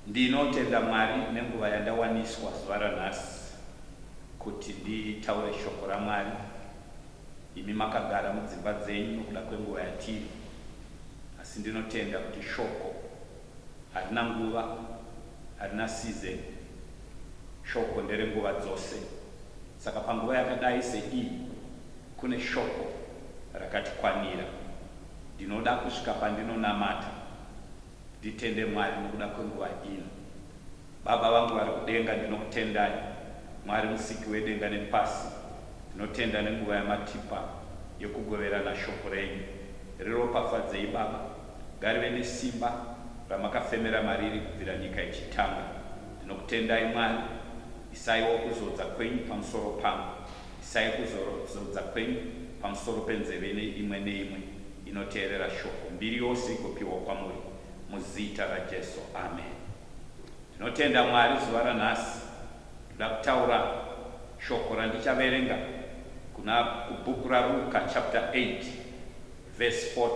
Ndinotenda Mwari nenguva yandawaniswa zuva ranhasi kuti nditaure shoko raMwari. Imi makagara mudzimba dzenyu nokuda kwenguva yatiri, asi ndinotenda kuti shoko harina nguva, harina season. Shoko ndere nguva dzose. Saka panguva yakadai seiyi kune shoko rakatikwanira. Ndinoda kusvika pandinonamata nditende Mwari nokuda kwenguva ino. Baba vangu vari kudenga, ndinokutendai Mwari musiki wedenga nepasi. Ndinotenda nenguva yamatipa yekugoverana shoko renyu. Riropafadzei Baba. Ngarive nesimba ramakafemera mariri kubvira nyika ichitanga. Ndinokutendai Mwari. Isaiwo kuzodza kwenyu pamusoro pangu. Isai kuzorodza kwenyu pamusoro penzeve neimwe neimwe inoteerera Shoko, mbiri yose igopiwa kwamuri, muZita raJesu. Ameni. Ndinotenda, Mwari, zuva ranhasi Ndoda kutaura Shoko randichaverenga kuna, kuBhuku raRuka, chapter 8. Verse 40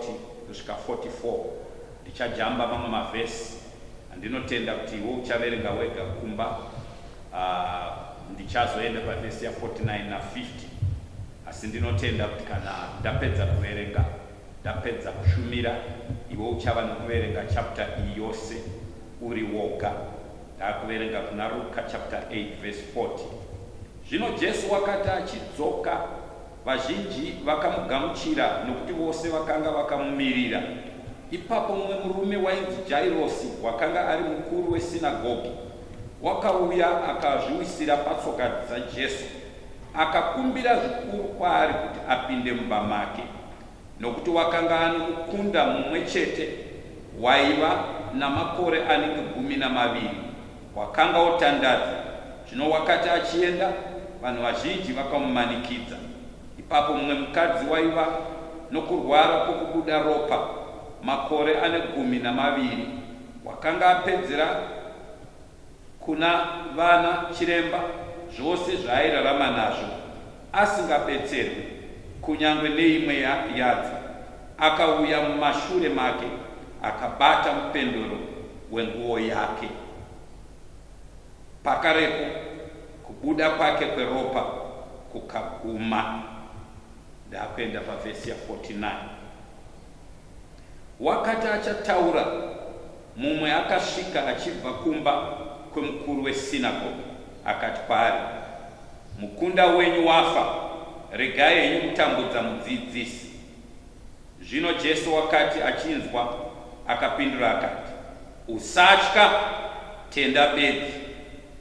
kusvika 44 ndichajamba mamwe maverse andinotenda kuti iwe uchaverenga wega kumba ahh ndichazoenda paverse ya 49 na 50 asi ndinotenda kuti kana ndapedza kuverenga ndapedza kushumira iwe uchava nekuverenga chapter iyi yose uri woga ndakuverenga kuna Ruka chapter 8 verse 40 zvino Jesu wakati achidzoka Vazhinji vakamugamuchira nokuti vose vakanga vakamumirira. Ipapo mumwe murume wainzi Jairosi, wakanga ari mukuru wesinagogi, wakauya akazviwisira patsoka dzaJesu. Akakumbira zvikuru kwaari kuti apinde mumba make, nokuti wakanga anomukunda mumwe chete waiva namakore anenge gumi namaviri Wakanga wotandadza, zvino wakati achienda, vanhu vazhinji vakamumanikidza. Ipapo mumwe mukadzi waiva nokurwara kwokubuda ropa makore ane gumi namaviri, wakanga apedzera kuna vana chiremba zvose zvaairarama nazvo, asingabetserwe kunyangwe neimwe yadzo, akauya mumashure make akabata mupendero wenguwo yake. Pakarepo kubuda kwake kweropa kukaguma. Ndakuenda pavhesi ya 49. Wakati achataura, mumwe akasvika achibva kumba kwemukuru wesinagoge akati kwaari, Mukunda wenyu wafa, regai henyu kutambudza Mudzidzisi. Zvino Jesu wakati achinzwa, akapindura akati, Usatya, tenda bedzi,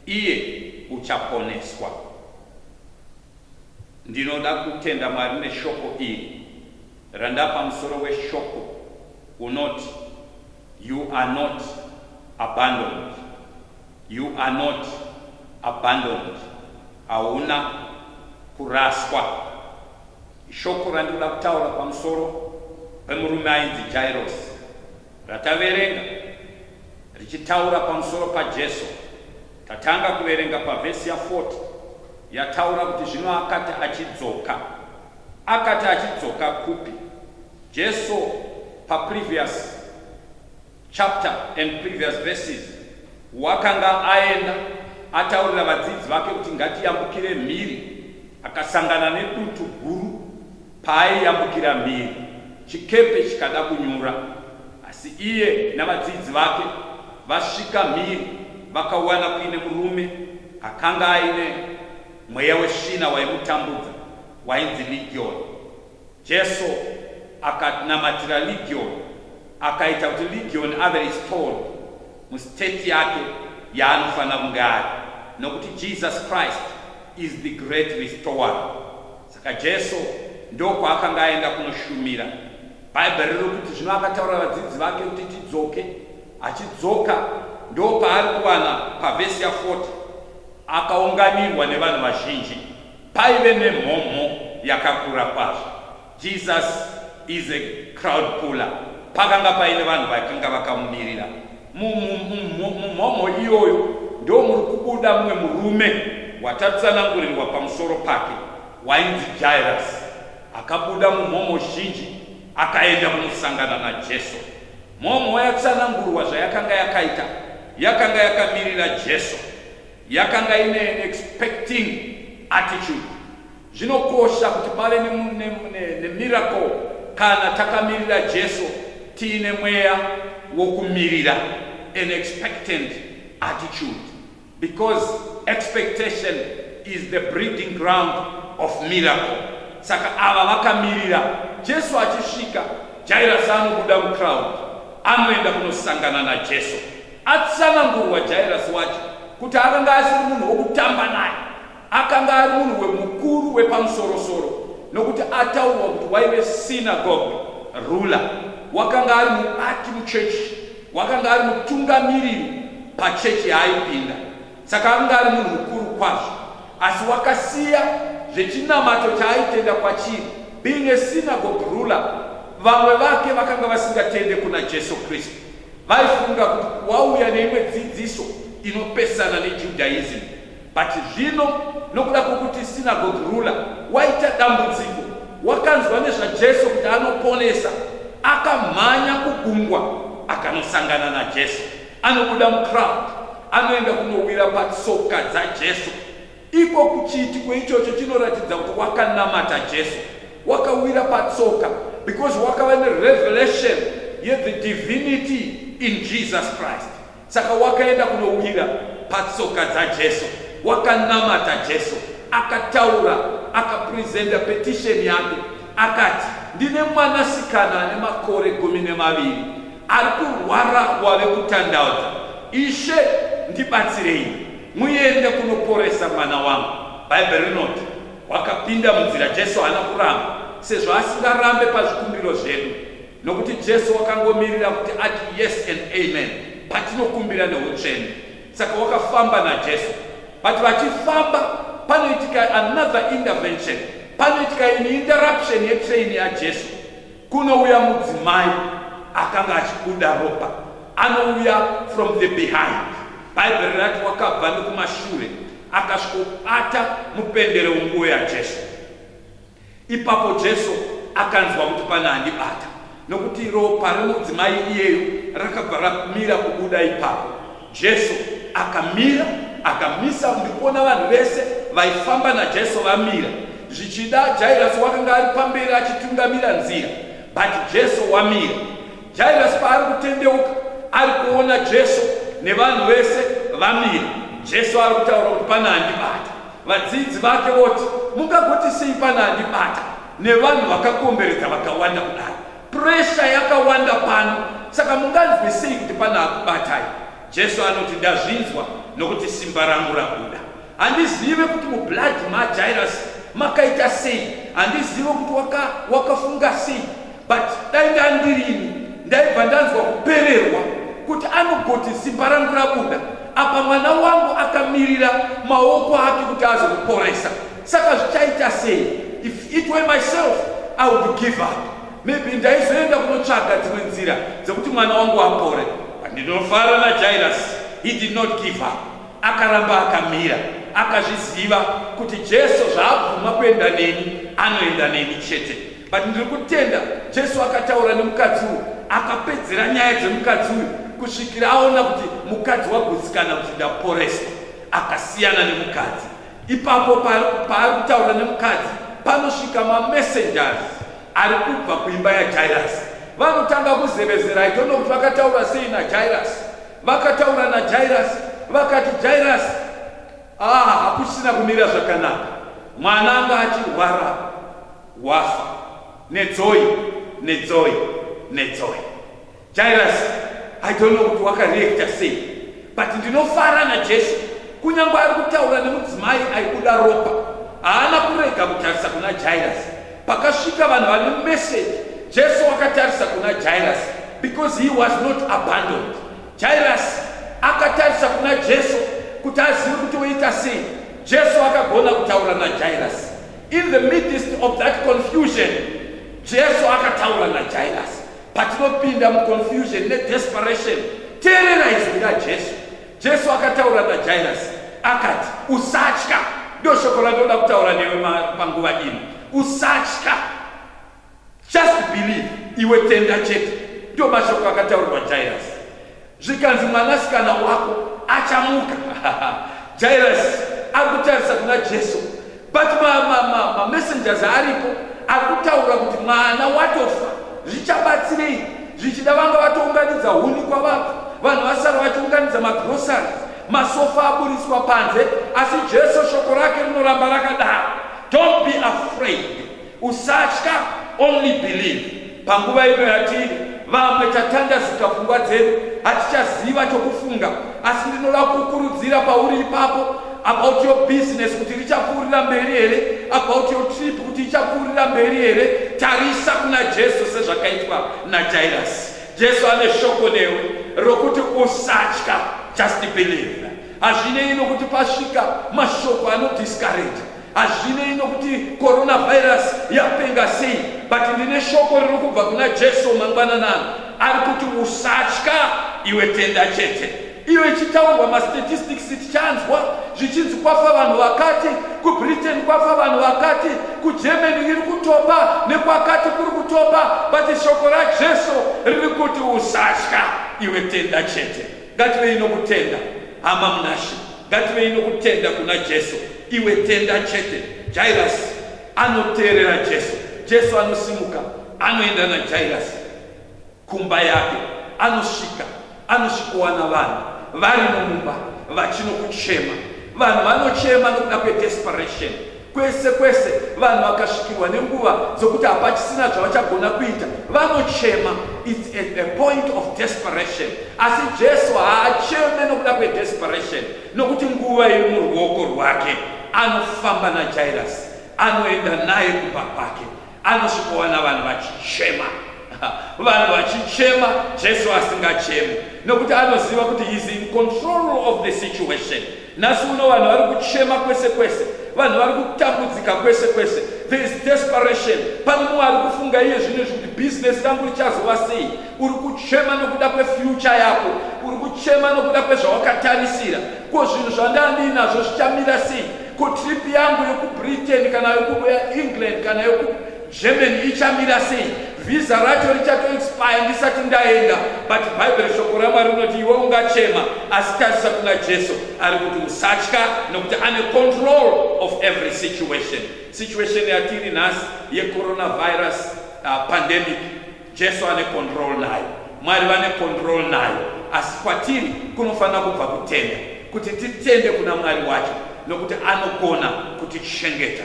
iye uchaponeswa. Ndinoda kutenda Mwari neshoko iri randapa musoro weshoko unoti You are not abandoned. You are not abandoned. Hauna kuraswa. Ishoko randinoda kutaura pamusoro pemurume ainzi Jairos rataverenga richitaura pamusoro paJesu. Tatanga kuverenga pavhesi ya 40 yataura kuti zvino akati achidzoka. Akati achidzoka kupi? Jesu pa previous chapter and previous verses wakanga aenda ataurira vadzidzi vake kuti ngatiyambukire mhiri, akasangana nedutu guru. Paaiyambukira mhiri, chikepe chikada kunyura, asi iye navadzidzi vake vasvika mhiri, vakawana kuine murume akanga aine mweya wesvina waimutambudza, wainzi Ligioni. Jesu akanamatira Ligioni, akaita kuti Ligioni ave restored mustate yake yaanofanira kunge ari, nokuti Jesus Christ is the great restorer. Saka Jesu ndokwaakanga aenda kunoshumira. Bhaibheri riri kuti zvino akataura vadzidzi vake kuti tidzoke. Achidzoka ndopaari kuwana pavhesi ya 40 akaunganirwa nevanhu vazhinji. Paive nemhomho yakakura kwazvo. Jesus is a crowd puller. Pakanga paine vanhu vakanga vakamumirira. Mumhomho iyoyo ndo muri kubuda mumwe murume watatsanangurirwa pamusoro pake wainzi Jairasi. Akabuda mumhomho zhinji akaenda kunosangana naJesu. Mhomho yatsanangurwa zvayakanga yakaita yakanga yakamirira Jesu, yakanga ine expecting attitude Zvinokosha kuti pave nemiracle kana takamirira Jesu tiine mweya wokumirira, an expectant attitude, because expectation is the breeding ground of miracle. Saka ava vakamirira Jesu achisvika, Jairasi anobuda mucrowd, anoenda kunosangana naJesu. Atsanangurwa Jairasi wacho kuti akanga asiri munhu wokutamba naye Akanga ari munhu wemukuru wepamusorosoro nokuti ataurwa kuti waive synagogue ruler, wakanga ari mubati muchechi, wakanga ari mutungamiriri pachechi yaaipinda. Saka akanga ari munhu mukuru kwazvo, asi wakasiya zvechinamato chaaitenda kwachiri. Being a synagogue ruler, vamwe vake vakanga vasingatende kuna Jesu Kristu, vaifunga kuti wauya neimwe dzidziso inopesana neJudaism. But zvino nokuda kwokuti synagogue ruler waita dambudziko, wakanzwa nezvaJesu kuti anoponesa, akamhanya kugungwa akanosangana naJesu. Anobuda mucrowd, anoenda kunowira patsoka dzaJesu. Iko kuchiitiko ichocho chinoratidza kuti wakanamata Jesu, wakawira patsoka because wakava nerevelation yethe divinity in Jesus Christ. Saka wakaenda kunowira patsoka dzaJesu, wakanamata Jesu, akataura, akapresenta petisheni yake, akati, ndine mwanasikana ane makore gumi nemaviri ari kurwara wave kutandaudza, Ishe, ndibatsirei muende kunoporesa mwana wangu. Bhaibheri rinoti wakapinda munzira. Jesu haana kuramba, sezvo asingarambe pazvikumbiro zvedu. nokuti Jesu wakangomirira kuti ati yes and amen patinokumbira neutsvene. Saka wakafamba naJesu, but vachifamba panoitika another intervention, panoitika in interruption yetrain yaJesu. Kunouya mudzimai akanga achibuda ropa, anouya from the behind. Bhaibheri rati wakabva nekumashure akasvikobata mupendero wenguo yaJesu. Ipapo Jesu akanzwa kuti pane andibata, nokuti ropa remudzimai iyeyu rakabva ramira kubuda. Ipapo Jesu akamira, akamisa ndikuona vanhu vese vaifamba naJesu vamira. Zvichida Jairasi wakanga ari pamberi achitungamira nzira, but Jesu wamira. Jairasi paari kutendeuka ari kuona Jesu nevanhu vese vamira, Jesu ari kutaura kuti pane andibata. Vadzidzi vake voti, Mungagoti sei pana andibata nevanhu vakakomberedza vakawanda kudai? Puresha yakawanda pano, saka munganzwe sei kuti pana akubatai? Jesu anoti, Ndazvinzwa nokuti simba rangu rabuda. Handizive kuti mubhladhi maJairasi makaita sei, handizive kuti waka, wakafunga sei but dai ndandirini ndaibva ndanzwa kupererwa kuti anogoti simba rangu rabuda apa mwana wangu akamirira maoko ake kuti azomuporaisa saka zvichaita sei if it were myself i would give up maybe ndaizoenda kunotsvaga dzimwe nzira dzekuti mwana wangu apore ndinofara najairus he did not give up Akaramba akamira, akazviziva kuti Jesu zvaabvuma kuenda neni, anoenda neni chete. But ndiri kutenda Jesu akataura nemukadzi uyu, akapedzera nyaya dzemukadzi uyu kusvikira aona kuti mukadzi wagutsikana kuti ndaporeswa, akasiyana nemukadzi. Ipapo paari kutaura nemukadzi, panosvika mamessengers ari kubva kuimba yaJairasi, vanotanga kuzevezera. I don't know kuti vakataura sei naJairasi Vakataura naJairasi vakati, Jairasi, ah, hakusina kumira zvakanaka, mwana anga achirwara wafa. Nedzoi, nedzoi, nedzoi. Jairasi, I don't know kuti wakareacta sei, but ndinofara naJesu kunyange ari kutaura nemudzimai aibuda ropa haana kurega kutarisa kuna Jairasi Pakasvika vanhu vane message, Jesu wakatarisa kuna Jairus because he was not abandoned. Jairus akatarisa kuna Jesu kuti azive kuti woita sei. Jesu akagona kutaura na Jairus. In the midst of that confusion, Jesu akataura na Jairus. Patinopinda mu confusion ne desperation, teerera izwi ra Jesu. Jesu akataura naJairasi akati, usatya. Ndoo shoko randinoda kutaura newe panguva ino. Usatya, just believe, iwe tenda chete. Ndoo mashoko akataurwa Jairasi. Zvikanzi mwanasikana wako achamuka. Jairasi akutarisa kuna Jesu but mamessengers ma, ma, ma aripo akutaura kuti mwana watofa zvichabatsirei zvichida vanga vatounganidza huni kwavabva vanhu vasara vachiunganidza magrosari masofa aburitswa panze asi jesu shoko rake rinoramba rakadaro don't be afraid Usatya, only believe. Panguva ino yatiri vamwe tatandazika pfungwa dzedu, hatichaziva chokufunga, asi ndinoda kukurudzira pauri ipapo about your business kuti richapfuurira mberi here, about your trip kuti ichapfuurira mberi here. Tarisa kuna Jesu sezvakaitwa naJairasi. Jesu ane shoko newe rokuti usatya, just believe. Hazvinei nokuti pasvika mashoko anodiscourage Hazvinei nokuti coronavirus yapenga sei, but ndine shoko riri kubva kuna Jesu mangwanana ano. Ari kuti usatya iwe tenda chete. Iyo ichitaurwa mastatistics tichanzwa zvichinzi kwafa vanhu vakati, kuBritain kwafa vanhu vakati, kuGermany iri kutopa nekwakati kuri kutopa, but shoko raJesu riri kuti usatya iwe tenda chete. ngativei nokutenda hama munashe ngativei nokutenda kuna jesu iwe tenda chete jairasi anoteerera jesu jesu anosimuka anoenda najairasi kumba yake anosvika anosvikowana vanhu varimo mumba vachinokuchema vanhu vanochema nokuda kwedesperation Kwese kwese vanhu vakasvikirwa nenguva dzokuti hapachisina zvavachagona kuita, vanochema. It's at a point of desperation. Asi Jesu haacheme nokuda kwedesperation, nokuti nguva iri muruoko rwake. Anofamba naJairasi, anoenda naye kumba kwake. anosvikowana vanhu vachichema vanhu vachichema jesu asingachemi nokuti anoziva kuti heis in control of the situation nhasi uno vanhu vari kuchema kwese kwese vanhu vari kutambudzika kwese kwese there is desperation pane mumwe ari kufunga iye zvino izvi kuti bhizinesi rangu richazova sei uri kuchema nokuda kwefyucha yako uri kuchema nokuda kwezvawakatarisira ko zvinhu zvandandiinazvo zvichamira sei kutrip yangu yekubritain kana yekuengland kana yekugermany ichamira sei vhiza racho richatoexpire ndisati ndaenda but bhaibheri shoko ramwari rinoti iwe ungachema asi tarisa kuna jesu ari kuti usatya nokuti ane control of every situation situation yatiri nhasi yecoronavirus uh, pandemic Jesu ane control nayo, Mwari vane control nayo, asi kwatiri kunofanira kubva kutenda, kuti titende kuna Mwari wacho, nokuti anogona kutichengeta.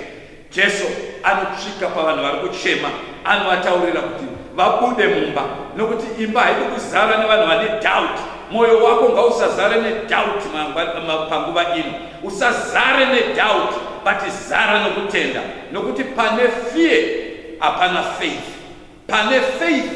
Jesu anosvika pavanhu vari kuchema, anovataurira kuti vabude mumba, nokuti imba haidi kuzara nevanhu vane doubt. Mwoyo wako ngausazare nedoubt panguva ino, usazare nedoubt, but zara nokutenda, nokuti pane fear hapana faith. Pane faith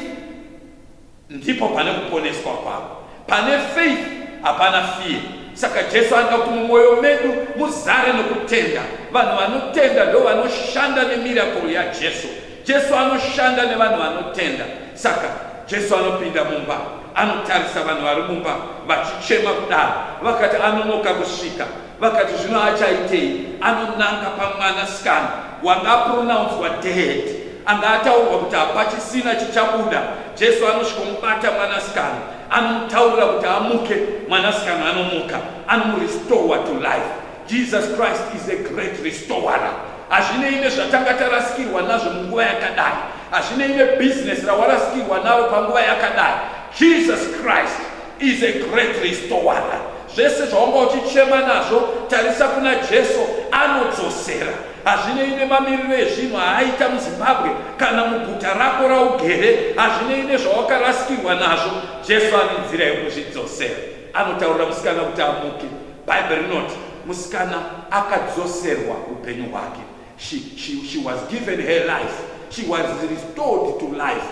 ndipo pane kuponeswa kwako. Pane faith hapana fear. Saka Jesu anoda kuti mumwoyo medu muzare nokutenda. Vanhu vanotenda ndo vanoshanda nemirakuru yaJesu. Jesu anoshanda nevanhu vanotenda. Saka Jesu anopinda mumba, anotarisa vanhu vari mumba vachichema kudaro, vakati anonoka kusvika. Vakati zvino achaitei? Anonanga pamwana sikana wanga apronouncwa dead, anga ataurwa kuti hapachisina chichabuda. Jesu anosvikomubata mwana sikana, anomutaurira kuti amuke. Mwana sikana anomuka, anomurestore to life. Jesus Christ is a great restorer. Hazvinei nezvatanga tarasikirwa nazvo munguva yakadai, hazvinei nebusiness rawarasikirwa naro panguva yakadai. Jesus Christ is a great restorer zvese zvaunga uchichema nazvo tarisa kuna jesu anodzosera hazvinei nemamiriro ezvinhu aaita muzimbabwe kana muguta rako raugere hazvinei nezvawakarasikirwa nazvo jesu ane nzira yekuzvidzosera anotaurira musikana kuti amuke bhaibheri rinoti musikana akadzoserwa upenyu hwake she, she, she was given her life she was restored to life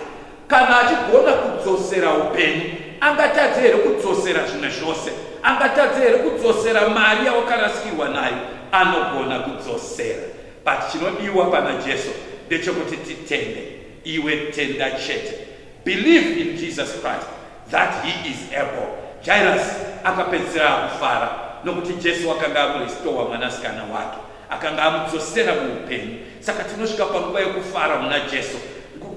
Kana achigona kudzosera upenyu, angatadze here kudzosera zvimwe zvose? Angatadze here kudzosera mari yawakarasikirwa nayo? Anogona kudzosera, but chinodiwa pana Jesu ndechekuti titende. Iwe tenda chete, believe in Jesus Christ that he is able. Jairus akapedzisira akufara nokuti Jesu wakanga akurestowa mwanasikana wake. Akanga amudzosera muupenyu. Saka tinosvika panguva yekufara muna Jesu.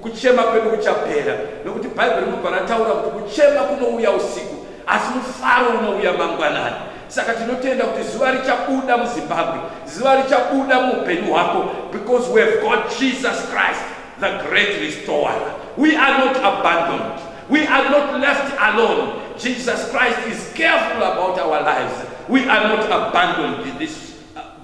Kuchema kwedu kuchapera, nokuti Bhaibheri rinobva rataura kuti kuchema kunouya usiku, asi mufaro unouya mangwanani. Saka tinotenda kuti zuva richabuda muZimbabwe, zuva richabuda muupenyu hwako, because we have got Jesus Christ, the great restorer. We are not abandoned. We are not left alone. Jesus Christ is careful about our lives. We are not abandoned in this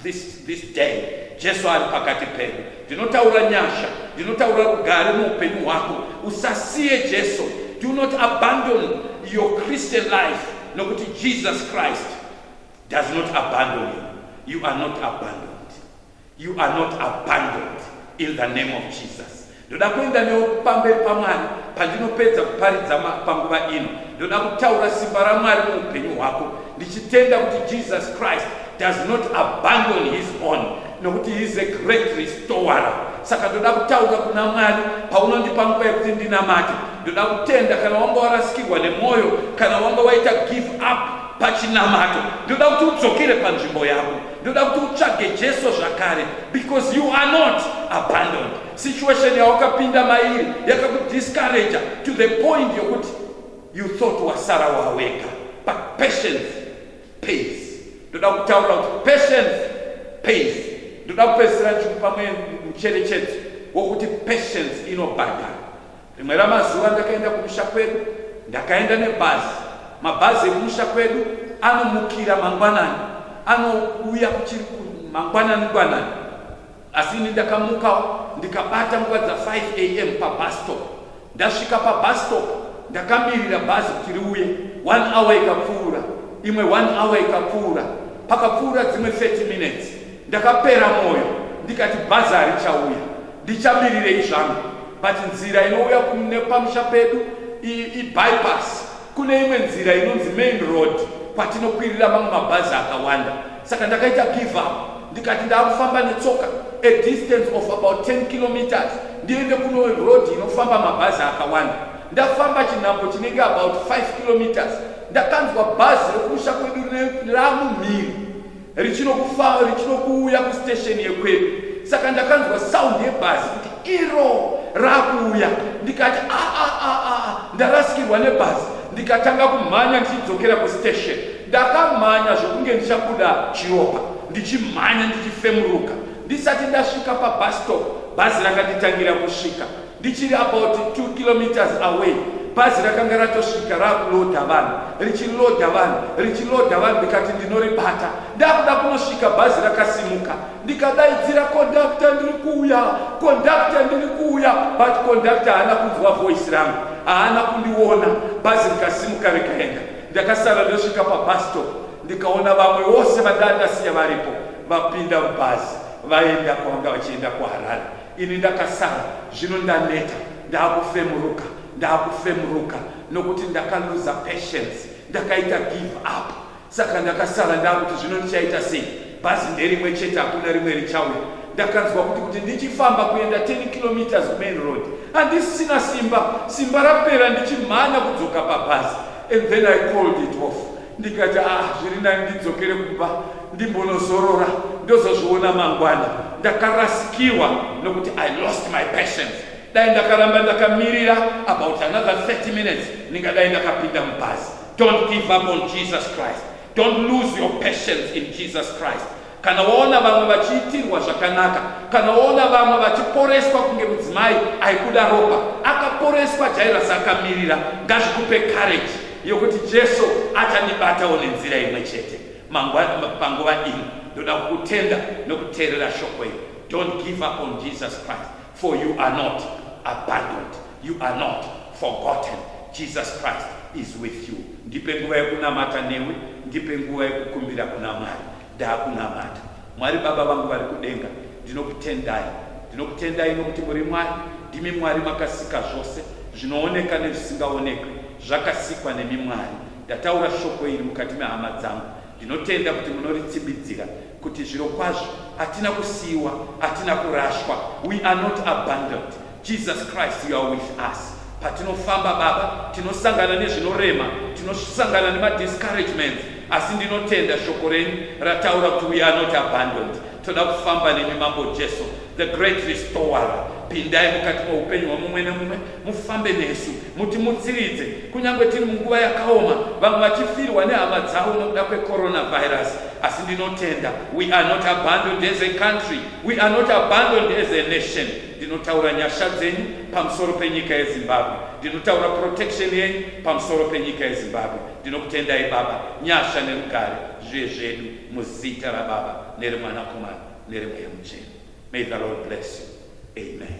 this, this day jesu ari pakati pedu ndinotaura nyasha ndinotaura rugare muupenyu hwako usasiye jesu do not abandon your christian life nokuti jesus christ does not abandon you you are not abandoned you are not abandoned in the name of jesus Ndoda kuenda newe pamberi paMwari pandinopedza kuparidza panguva ino. Ndoda kutaura simba raMwari muupenyu hwako, ndichitenda kuti Jesus Christ does not abandon his own, nokuti he is a great restorer. Saka ndoda kutaura kuna Mwari paunondipa nguva yekuti ndinamate. Ndoda kutenda kana wanga warasikirwa nemwoyo, kana wanga waita give up pachinamato, ndoda kuti udzokere panzvimbo yako. Ndoda kuti utsvage Jesu zvakare because you are not abandoned. Situation yawakapinda mairi yakakudiscourage to the point yokuti you thought wasara wawega but patience pays. Ndoda kutaura kuti patience pays. Ndoda kupedzisira ndichikupa mwe mucherechedzo wokuti patience inobhadhara. Rimwe ramazuva ndakaenda kumusha kwedu, ndakaenda nebhazi. Mabhazi ekumusha kwedu anomukira mangwanani, anouya kuchiri mangwanani ngwanani Asi ini ndakamuka ndikabata nguva dza 5 am pabus stop. Ndasvika pabus stop ndakamirira bhazi kuti riuye. One hour ikapfuura, imwe one hour ikapfuura, pakapfuura dzimwe 30 minutes ndakapera mwoyo ndikati bhazi harichauya, ndichamirirei zvangu but nzira inouya pamusha pedu ibypass Kune imwe nzira inonzi main road kwatinokwirira mamwe mabhazi akawanda, saka ndakaita give up ndikati ndaakufamba netsoka a distance of about 10 kilometers ndiende kuno road inofamba mabhazi akawanda. Ndafamba chinhambo chinenge about 5 kilometers ndakanzwa bhazi rekusha kwedu ramumhiri richinokufamba richinokuuya kustation yekwedu saka ndakanzwa sound yebhazi kuti iro rakuuya ndikati aa ah, aa ah, aa ah, ndarasikirwa nebhazi ndikatanga kumhanya ndichidzokera kustation ndakamhanya zvekunge ndichabuda chiropa ndichimhanya ndichifemuruka ndisati ndasvika pabastop bhazi rakanditangira kusvika Ndichiri about 2 kilometers away bhazi rakanga ratosvika rakuloda vanhu richiloda vanhu richiloda vanhu ndikati ndinoribata ndakuda kunosvika bhazi rakasimuka ndikadaidzira kondakta ndiri kuuya kondakta ndiri kuuya but kondakta haana kunzwa voice rangu haana kundiona bhazi rikasimuka rikaenda ndakasara ndosvika pabastop ndikaona vamwe vose vandandasiya varipo vapinda mubhazi vaenda kwavanga vachienda kuharare Ini ndakasara zvino ndaneta ndakufemuruka ndakufemuruka nokuti ndakaluza patience ndakaita give up saka ndakasara ndakuti zvino ndichaita sei bhazi nderimwe chete hakuna rimwe richauya ndakanzwa kuti kuti ndichifamba kuenda 10 kilometers kumain road handisisina simba simba rapera ndichimhanya kudzoka pabhazi and then i called it off ndikati ah zviri nani ndidzokere kumba ndimbonozorora ndozozviona mangwana ndakarasikirwa nokuti i lost my patience dai ndakaramba ndakamirira about another 30 minutes ndingadai ndakapinda mubhazi don't give up on jesus christ don't lose your patience in jesus christ kana waona vamwe vachiitirwa zvakanaka kana waona vamwe vachiporeswa kunge mudzimai aikuda ropa akaporeswa jairasi akamirira ngazvikupe kareji yokuti jesu achandibatawo nenzira imwe chete panguva ino ndoda kukutenda nokuteerera shoko iri don't give up on jesus christ For you are not abandoned, you are not forgotten. Jesus Christ is with you. Ndipe nguva yekunamata newe, ndipe nguva yekukumbira kuna Mwari. Ndakunamata. Mwari Baba vangu vari kudenga, ndinokutendai. Ndinokutendai nokuti muri Mwari, ndimi Mwari makasika zvose zvinooneka nezvisingaonekwe, zvakasikwa nemi Mwari. Ndataura shoko iri mukati mehama dzangu. Ndinotenda kuti munoritsibidzira, kuti zvirokwazvo hatina kusiiwa hatina kurashwa we are not abandoned jesus christ you are with us patinofamba baba tinosangana nezvinorema tinosangana nemadiscouragements asi ndinotenda shoko renyu rataura kuti we are not abandoned toda kufamba nemi mambo jesu the great restorer pindai mukati moupenyu hwamumwe nemumwe mufambe nesu mutimutsiridze kunyange tiri munguva yakaoma vamwe vachifirwa nehama dzavo nokuda kwecoronavirus asi ndinotenda we are not abandoned as a country we are not abandoned as a nation ndinotaura nyasha dzenyu pamusoro penyika yezimbabwe ndinotaura protection yenyu pamusoro penyika yezimbabwe ndinokutendai baba nyasha nerugare zvive zvedu muzita rababa neremwanakomana neremweya muchena may the lord bless you amen